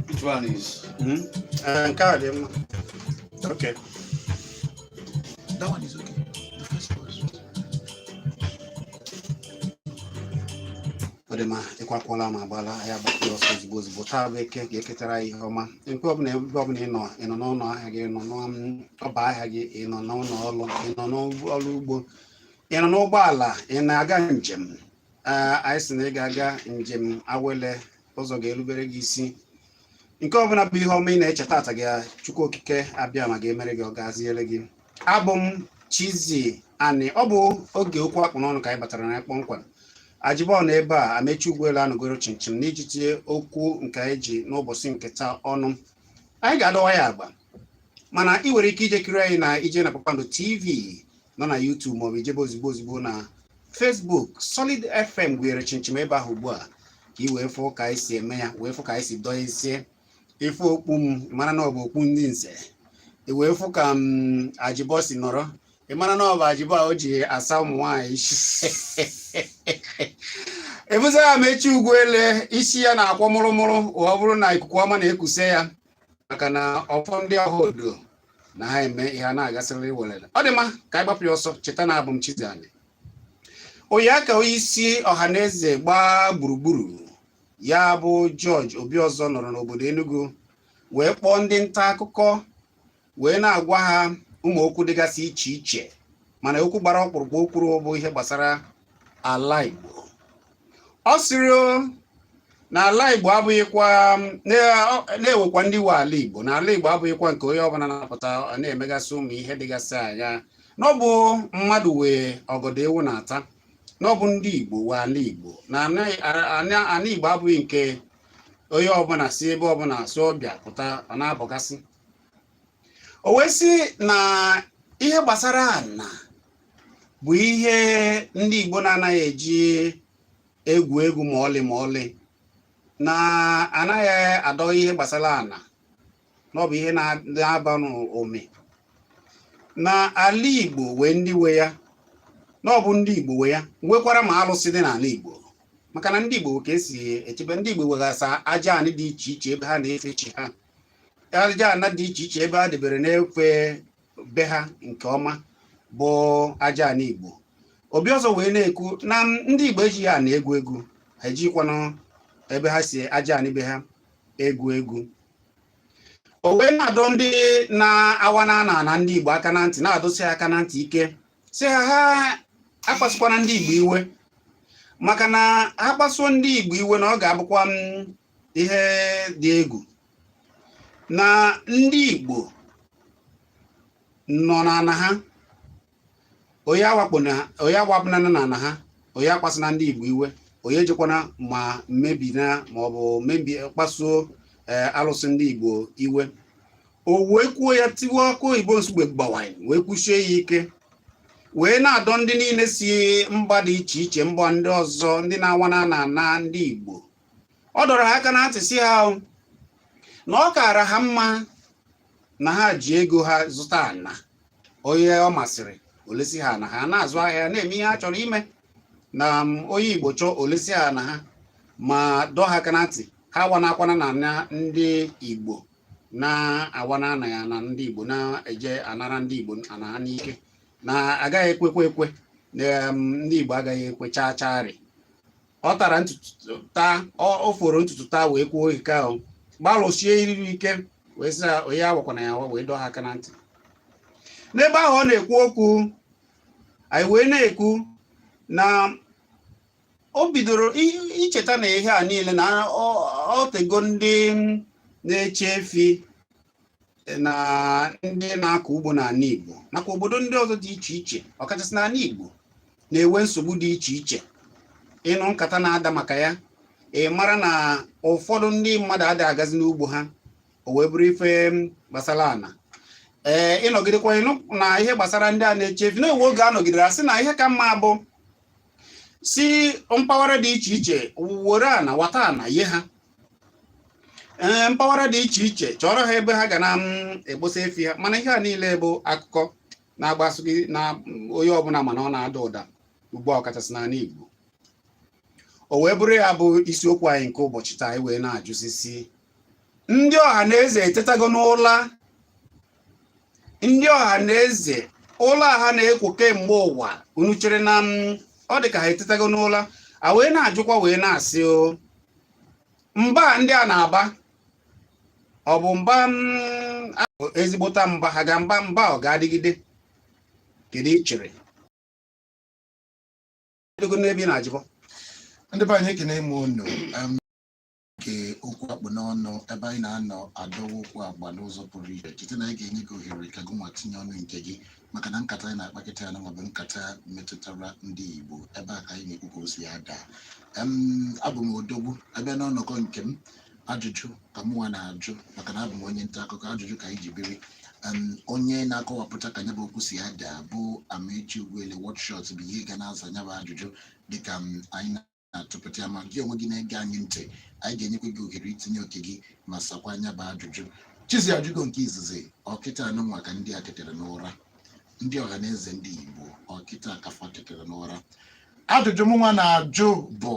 Which one is? Hmm? Uh, nke a dị mma. Okay. That one is okay. The first one. Ọ dị mma ịkwakwala ma gbala ya gbakere ọsọ ozigbo ozigbo taa bụ eke ga-eketara ya ihe ọma nke ọbụla ebe ọbụla ị nọ ị nọ n'ụlọ ahịa gị ị nọ n'ọba ahịa gị ị nọ n'ụlọ ọrụ ị nọ n'ọrụ ugbo ị nọ n'ụgbọala ị na-aga njem Ee, anyị sị na ị ga-aga njem awele ụzọ ga-erubere gị isi nke ọbụla bụ ihe ọma ị na-eche taata gị Chukwu okike abiama ga-emere gị ọ gaziere gị abụ m Chizzy Ani ọ bụ oge okwu a kpụ n'ọnụ ka anyị batara na ya kpọmkwem Ajibọ nọ ebe a Amaechi Ugwuele anọgoro chịmchịm n'iji tinye okwu nke anyị ji n'ụbọchị nke taa ọnụ anyị ga-adọwa ya agba mana ị nwere ike ije kiri anyị na ije na Kpakpando TV nọ na YouTube maọbụ i jebe ozigbo ozigbo na Facebook Solid FM gụnyere chịmchịm ebe ahụ ugbu a ka ị wee fụ ka anyị si eme ya wee fụ ka anyị si dọọ isi ị fụ okpu m mara na ọ bụ okpu ndị nze i wee fụ ka m mm, Ajibọ si nọrọ ị mara na ọ bụ Ajibọ a o ji asa ụmụ nwaanyị isi ọ bụzị Amaechi Ugwuele isi ya na-akwọ mụrụmụrụ ọ bụrụ na ikuku ọma na-ekuse ya maka na ọfọ ndị Ohodo na ha eme ihe a na-agasịrị welele ọ dị mma ka anyị gbapụ ya ọsọ cheta na abụ m Chizzy Ani oyi aka onye isi Ohanaeze gbaa gburugburu ya bụ George Obiọzọ nọrọ n'obodo Enugu wee kpọọ ndị nta akụkọ wee na-agwa ha ụmụ okwu dịgasị iche iche mana okwu gbara ọkpụrụkpụ o kwuru bụ ihe gbasara ala Igbo ọ sịrị na ala Igbo abụghịkwa na e nwekwa ndị nwe ala Igbo na ala Igbo abụghịkwa nke onye ọbụla na-apụta na-emegasị ụmụ ihe dịgasị anya na ọ bụ mmadụ nwe ọgọdọ ewu na-ata na ọ bụ ndị Igbo nwe ala Igbo na ala Igbo abụghị nke onye ọbụla si ebe ọbụla si ọbịa pụta ọ na-abọgasị o wee sị na ihe gbasara ana bụ ihe ndị Igbo na-anaghị eji egwu egwu ma ọlị ma ọlị na a naghị adọ ihe gbasara ana na ọ bụ ihe na-aba n'ome na ala Igbo nwere ndị nwe ya na ọ bụ ndị Igbo nwe ya nwekwara ma alụsị dị n'ala Igbo maka na ndị Igbo nwe ka e si echebe ndị Igbo nwegasa aja anị dị iche iche ebe ha na-efe chi ha aja ana dị iche iche ebe ha debere na-efe be ha nke ọma bụ aja ana igbo Obiọzọ wee na-ekwu na ndị igbo ejighị ana egwu egwu ha ejikwanụ ebe ha si aja ana be ha egwu egwu o wee na-adọ ndị na-awana ana ndị igbo aka na ntị na-adọsi ha aka na ntị ike sị ha ha akpasukwana ndị igbo iwe maka na ha kpasuo ndị igbo iwe na ọ ga-abụkwa ihe dị egwu na ndị Igbo nọ n'ana ha onye awakpona na n'ana ha onye akpasuna ndị Igbo iwe onye ejikwana ma mmebi na ma ọ bụ mmebi kpasuo eh, alụsị ndị Igbo iwe o wee kwuo ya tiwaa akụ oyibo Nsugbe gbawaa ya wee kwusie ya ike wee na-adọ ndị niile si mba dị iche iche mba ndị ọzọ ndị na-awana ana ndị Igbo ọ dọrọ ha aka na ntị sị ha na ọ kaara ha mma na ha ji ego ha zụta ana onye ọ masịrị o lesi ha ana ha na-azụ ahịa na-eme ihe ha chọrọ ime na onye Igbo chọọ o lesi ha ana ha ma dọọ ha aka na ntị ha awanakwana ana ndị Igbo na-awana ana ndị Igbo na-eje anara ndị Igbo ana ha n'ike na agaghị ekwekwe ekwe ndị Igbo agaghị ekwe chaa chaarị ọ tara ntutu taa o foro ntutu taa wee kwuo ike ahụ gbalụsie iriri ike wee sị onye awakwana ya awa wee dọọ ha aka na ntị n'ebe ahụ ọ na-ekwu okwu anyị wee na-ekwu na o bidoro icheta na ihe a niile na o tego ndị na-eche efi na ndị na-akọ ugbo n'ana Igbo nakwa obodo ndị ọzọ dị iche iche ọkachasị n'ana Igbo na-enwe nsogbu dị iche iche ị nụ nkata na-ada maka ya ị mara na ụfọdụ ndị mmadụ adịghị agazi n'ugbo ha o wee bụrụ ife gbasara ana ee ị nọgidekwa ị nụ na ihe gbasara ndị a na-eche efi na-enwe oge a nọgidere sị na ihe ka mma bụ si mpaghara dị iche iche were ana wata ana ye ha ee mpaghara dị iche iche chọọrọ ha ebe ha ga na-egbosa mm, efi ha mana ihe a niile bụ akụkọ na-agbasaghị na mm, onye ọbụna mana ọ na-ada ụda ugbu a ọkachasị n'ana Igbo o wee bụrụ ya bụ isiokwu anyị nke ụbọchị taa anyị wee na-ajụzi sị ndị Ọhanaeze etetago n'ụla ndị Ọhanaeze ụla a ha na-ekwo kemgbe ụwa unu chere na m ọ dị ka ha etetago n'ụla a wee na-ajụkwa wee na-asị ọ mba ndị a na-aba ọ bụ mba m, a bụ ezigbote mba ha ga mba mba ọ ga-adịgide kedu i chere Edogo n'ebe ị na-ajụbọ ndị be anyị ekene m unu Em, nke okwu akpụ n'ọnụ ebe anyị na-anọ adọwa okwu agba n'ụzọ pụrụ iche cheta na anyị ga-enye gị ohere ka gị nwa tinye ọnụ nke gị maka na nkata anyị na-akpa kịta anụnwa bụ nkata metụtara ndị Igbo ebe a ka anyị na-ekwu ka o si ada Em, abụ m odogwu abịa n'ọnọkọ nke m ajụjụ ka mụnwa na-ajụ maka na abụ m onye nta akụkọ ajụjụ ka anyị ji biri Em, onye na-akọwapụta ka nyabụ okwu si ada bụ Amaechi Ugwuele Watshot bụ onye ga na-aza nyabụ ajụjụ dịka m, anyị na-atụpụta ya ma gị onwe gị na-ege anyị ntị anyị ga-enyekwa gị ohere itinye oke gị ma sakwa nyabụ ajụjụ chizi ajụgo nke izizi ọ kịta anụnwa ka ndị a ketere n'ụra ndị ọha na eze ndị igbo ọ kịta ka fa ketere n'ụra ajụjụ mụnwa na-ajụ bụ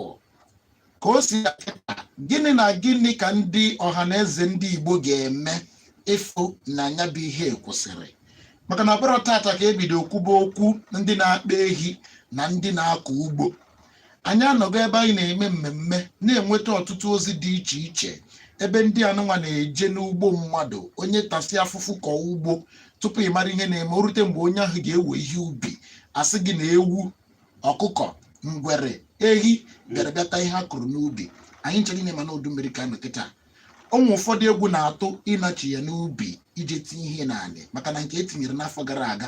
ka o si akịta gịnị na gịnị ka ndị ọha na eze ndị igbo ga-eme ịfụ na nyabụ ihe kwụsịrị maka na ọ bụrọ tata ka e bido kwuba okwu ndị na-akpa ehi na ndị na-akọ ugbo anyị anọgo ebe anyị na-eme mmemme na-enweta ọtụtụ ozi dị iche iche ebe ndị anụnwa na-eje n'ugbo mmadụ onye tasị afụfụ kọọ ugbo tupu ị mara ihe na-eme o rute mgbe onye ahụ ga-ewe ihe ubi a sị gị na ewu ọkụkọ ngwere ehi bịara bịa ta ihe a kụrụ n'ubi anyị ncha niile ma na udu mmiri ka a nọ kịta o nwe ụfọdụ egwu na-atụ ịnachigha n'ubi ije tinye ihe n'anị maka na nke e tinyere n'afọ gara aga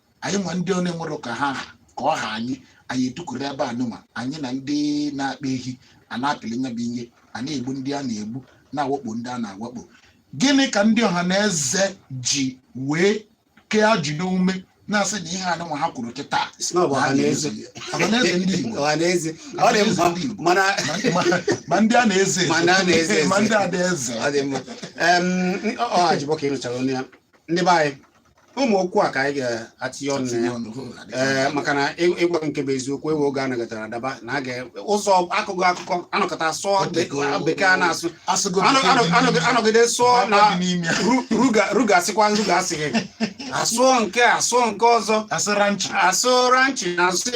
anyị nwa ndị ọ na-enwerọ ka ha ka ọ ha anyị anyị etukwuru ebe anụnwa anyị na ndị na-akpa ehi a na-apịlị nyabụ ihe a na-egbu ndị a na-egbu na-awakpo ndị a na-awakpo gịnị ka ndị ọha na eze ji wee kee ajị n'ume na-asị na ihe anụnwa ha kwuru kịta Sị na ọ bụ ọha na eze. ọha na eze ndị Igbo Ọha na eze. Ọ dị mma mana Ma- ma- ma ndị a na-eze Ma ndị a na-eze eze. ma ndị a na-eze ọ dị mma Em, ọ Ajibọ ka ị nụchara ọnụ ya ndị be anyị ụmụ okwu a ka anyị ga-atinye ọnụ na ya ee eh, maka na ịgwa nke bụ eziokwu ewe oge anọgọtara adaba na a ga-ụzọ akụkọ akụkọ a nọkọta sụọ bekee a na-asụ anọgide sụọ na ruga asịkwa ruga asịghị asụọ nke a sụọ nke ọzọ asụ ranchi na asị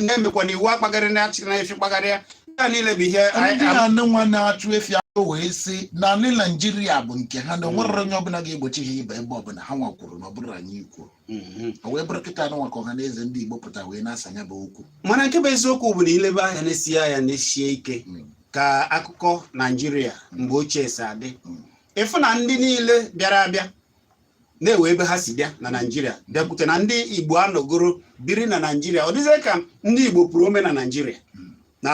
na-emekwa na iwu akpagharị na achịna efi kpagharịa ya niile bụ ihe anyị- ndị a nwa na-achụ efi ahụ wee sị na ndị naijiria bụ nke ha na o nwerọ onye ọbụla ga-egbochi ha ịba ebe ọbụla ha nwa kwuru na ọ bụrọ anyị kwuru Mhm. o wee bụrụ kịta anụnwa ka ọha na eze ndị igbo pụta wee na-asa nyabụ okwu mana nke bụ eziokwu bụ na i lebe anya nesie anya nesie ike Mm. ka akụkọ naijiria mgbe ochie si adị Mm. ị fụ na ndị niile bịara abịa na enwe ebe ha si bịa na naijiria bịakwute na ndị igbo anọgoro biri na naijiria ọ dịzie ka ndị igbo puru ome na naijiria na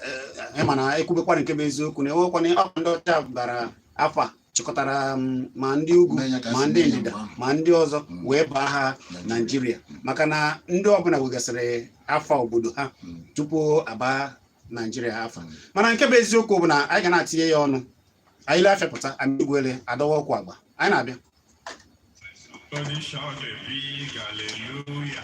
eh, eh, mana ekwubekwara nke bụ eziokwu na enwekwana ọkwa ndị ọcha bara afa chịkọtara mm, ma ndị ugwu ma ndị ndịda ma ndị ọzọ mm. wee baa ha naijiria mm. maka na ndị ọbụla nwegasịrị afa obodo ha tupu aba naijiria afa mana nke bụ eziokwu bụ na anyị ga na-atinye ya ọnụ anyị lee afịa pụta amaechi ugwele adọwa okwu agba anyị na-abịa Condition de big hallelujah.